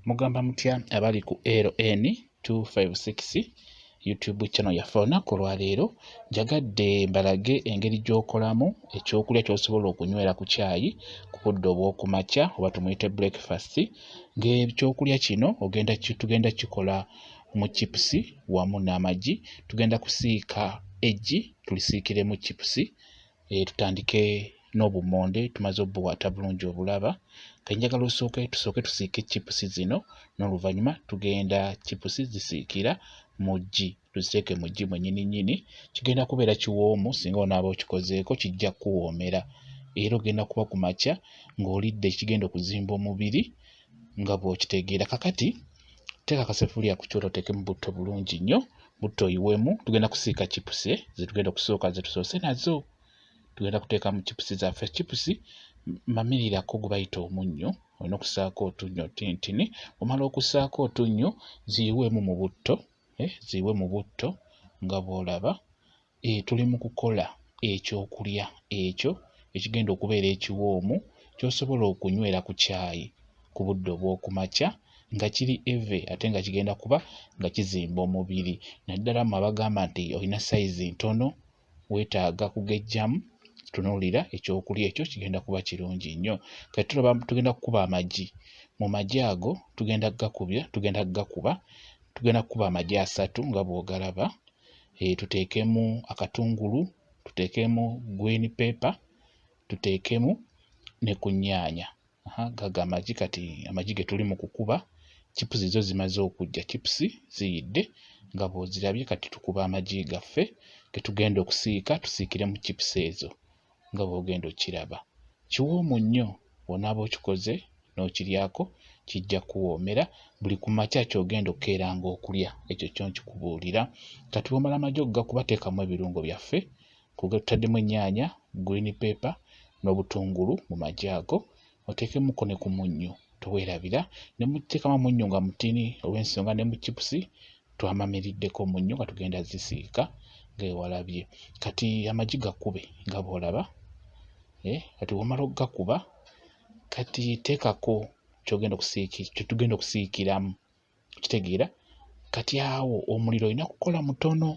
mugamba mutya abali ku ln 256 youtube channel yaffe olunaku olwaleero njagadde mbalage engeri gy'okolamu ekyokulya kyosobola okunywera ku kyayi ku budde obw'okumakya oba tumuyite breakfast ng'ekyokulya kino ogenda tugenda kikola mu chipusi wamu n'amagi tugenda kusiika eggi tulisiikiremu chipusi e, tutandike n'obummonde tumaze obuwata bulungi obulaba ke njagala osooke tusooke tusiike chipusi zino n'oluvannyuma tugenda chipusi zisiikira mu ggi tuziteeke mu ggi mwennyini nnyini kigenda kubeera kiwoomu singa onaaba okikozeeko kijja kukuwoomera era ogenda kuba ku makya ng'olidde ekigenda okuzimba omubiri nga bw'okitegeera kakati teeka akasefuliya ku kyoto oteekemu butto bulungi nnyo butto oyiwemu tugenda kusiika chipusi eh, zetugenda okusooka zetusoose nazo tugenda kuteeka mu chipusi zaffe chipusi mamirirako gwe bayita omunnyo olina okusaako otunnyo tintini omala okusaako otunnyo ziyiwemu mu butto eh, ziyiwe mu butto nga bwolaba e, tuli mu kukola ekyokulya ekyo ekigenda okubeera ekiwoomu ky'osobola okunywera ku caayi ku budde obw'oku makya nga kiri eve ate nga kigenda kuba nga kizimba omubiri naddala mu abagamba nti olina sayizi ntono weetaaga kugejjamu tunuulira ekyokulya ekyo kigenda kuba kirungi nnyo kati tulaba tugenda kukuba amagi mu magi ago tugenda kugakubya tugenda kugakuba tugenda kukuba amagi asatu nga bw'ogalaba, eh, tuteekemu akatungulu, tuteekemu green pepper, tuteekemu ne ku nnyaanya. Gago amagi kati amagi ge tuli mu kukuba, chipusi zo zimaze okujja, chipusi ziyidde nga bw'ozirabye. Kati tukuba amagi gaffe ge tugenda okusiika tusiikiremu chipusi ezo. nga bw'ogenda okiraba. Kiwoomu nnyo bw'onaaba okikoze n'okiryako kijja kuwoomera buli ku makya ky'ogenda okukeeranga okulya ekyo kyo nkikubuulira. Kati bw'omala amagi okugakuba teekamu ebirungo byaffe tutaddemu ennyaanya, green pepper n'obutungulu mu magi ago oteekemuko ne ku munnyo teweerabira ne muteekamu amunnyo nga mutini olw'ensonga ne mu chipusi twamamiriddeko omunnyo nga tugenda zisiika ng'ewalabye kati amagi gakube nga bw'olaba eh, kati womala okugakuba kati teekako kyogenda okusiiki kyetugenda okusiikiramu kitegeera kati awo omuliro olina kukola mutono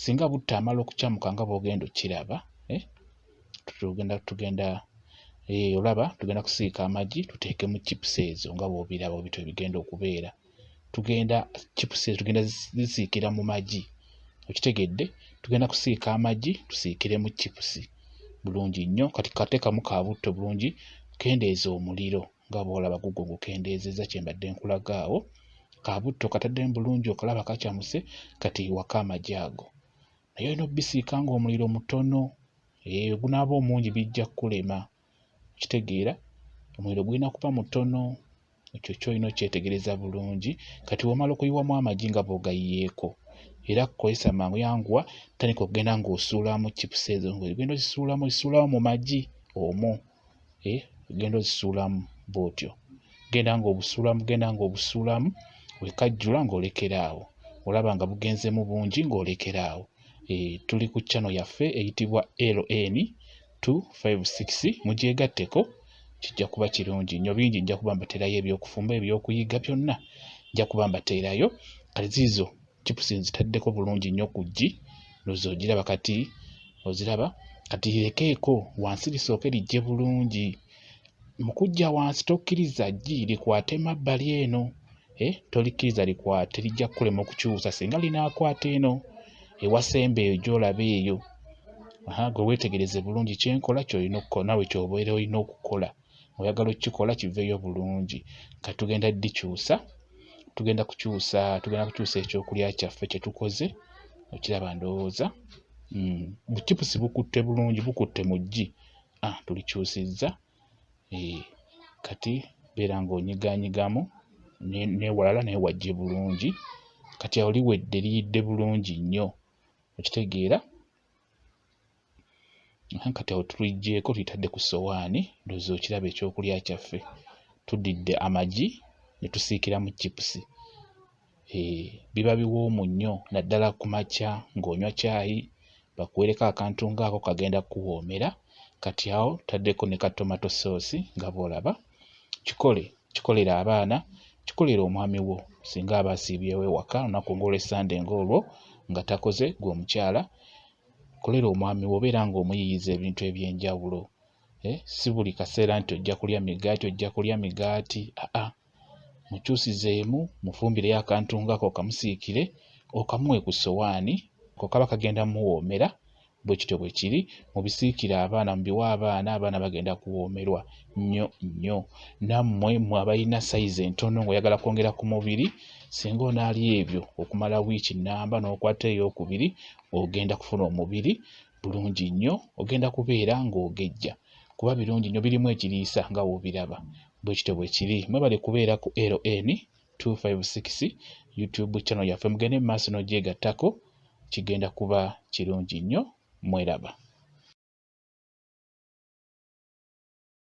singa butta amala okukyamuka nga bwogenda okiraba eh? tugenda tugenda eh, olaba tugenda kusiika amagi tuteekemu chips ezo nga bwobiraba obitu ebigenda okubeera tugenda chips ezo tugenda zisiikira mu magi okitegedde tugenda kusiika amagi tusiikiremu chips bulungi nnyo kati kateekamu ka butto bulungi kendeeza omuliro nga bw'olaba gugwo gukendeezezza kye mbadde nkulaga awo kabutto kataddemu bulungi okalaba kacamuse kati waka amagi ago naye olina obisiika ng'omuliro mutono eyo gunaaba omungi bijja kukulema okitegeera omuliro gulina kuba mutono ekyo kyolina okyetegereza bulungi kati wamala okuyiwamu amagi nga bwogayiyeeko era kukozesa mangu yanguwa tandika okugenda ng'osuulamu chipusi ezo ng'ogenda ozisuulamu ozisuulamu mu magi omwo eh, genda ozisuulamu bwotyo genda ng'obusuulamu genda ng'obusuulamu wekajjula ng'olekera awo olaba nga bugenzemu bungi ng'olekera awo eh, tuli ku channel yaffe eyitibwa ln 256 mugyegatteko kijja kuba kirungi nnyo bingi nja kuba mbateerayo ebyokufumba ebyokuyiga byonna nja kuba mbateerayo kale ziizo chips nzitaddeko bulungi nnyo ku ggi loza ogiraba kati oziraba kati lirekeeko wansi lisooke lijje bulungi mu kujja wansi tokkiriza ggi likwate mabbali eno eh, tolikkiriza likwate lijja kukulema okukyusa singa linaakwata eno ewasemba eyo gyolaba eyo gwe weetegereze bulungi kyenkola kyolina okukola nawe kyobeera olina okukola oyagala okukikola kiveeyo bulungi nga tugenda dikyusa tugenda kukyusa tugenda kukyusa ekyokulya kyaffe kyetukoze okiraba ndowooza mm, bucipusi bukutte bulungi bukutte mu ggi ah, tulikyusizza eh, kati beera ng'onyiganyigamu newalala naye wajje bulungi kati awo liwedde liyidde bulungi nnyo okitegeera kati awo tuligyeko tuyitadde ku sowaani ndozi okiraba ekyokulya kyaffe tudidde amagi ne tusiikiramu chipusi eh, biba biwoomu nnyo naddala ku makya ng'onywa caayi bakuwereko akantu ngaako kagenda kukuwoomera kati awo tutaddeko ne ka tomato soosi nga bw'olaba kikole kikolere abaana kikolere omwami wo singa aba asiibyewo ewaka olunaku ng'olwessande ng'olwo nga takoze gwe omukyala kolera omwami wo obeera ng'omuyiyiza ebintu eby'enjawulo eh, si buli kaseera nti ojja kulya migaati ojja kulya migaati aa mukyusizeemu mufumbireyo akantu ngako okamusiikire okamuwe ku sowaani ko kaba kagenda muwoomera bwe kityo bwe kiri mubisiikire abaana mubiwa abaana abaana bagenda kuwoomerwa nnyo nnyo nammwe mwe abalina sayizi entono ng'oyagala kwongera ku mubiri singa onaali ebyo okumala wiiki nnamba n'okwata ey'okubiri ogenda kufuna omubiri bulungi nnyo ogenda kubeera ng'ogejja kuba birungi nnyo birimu ekiriisa nga w'obiraba bwe kityo bwe kiri mwebale kubeera ku ln 256 youtube channel yaffe mugende mu maaso n'ogyegattako kigenda kuba kirungi nnyo mweraba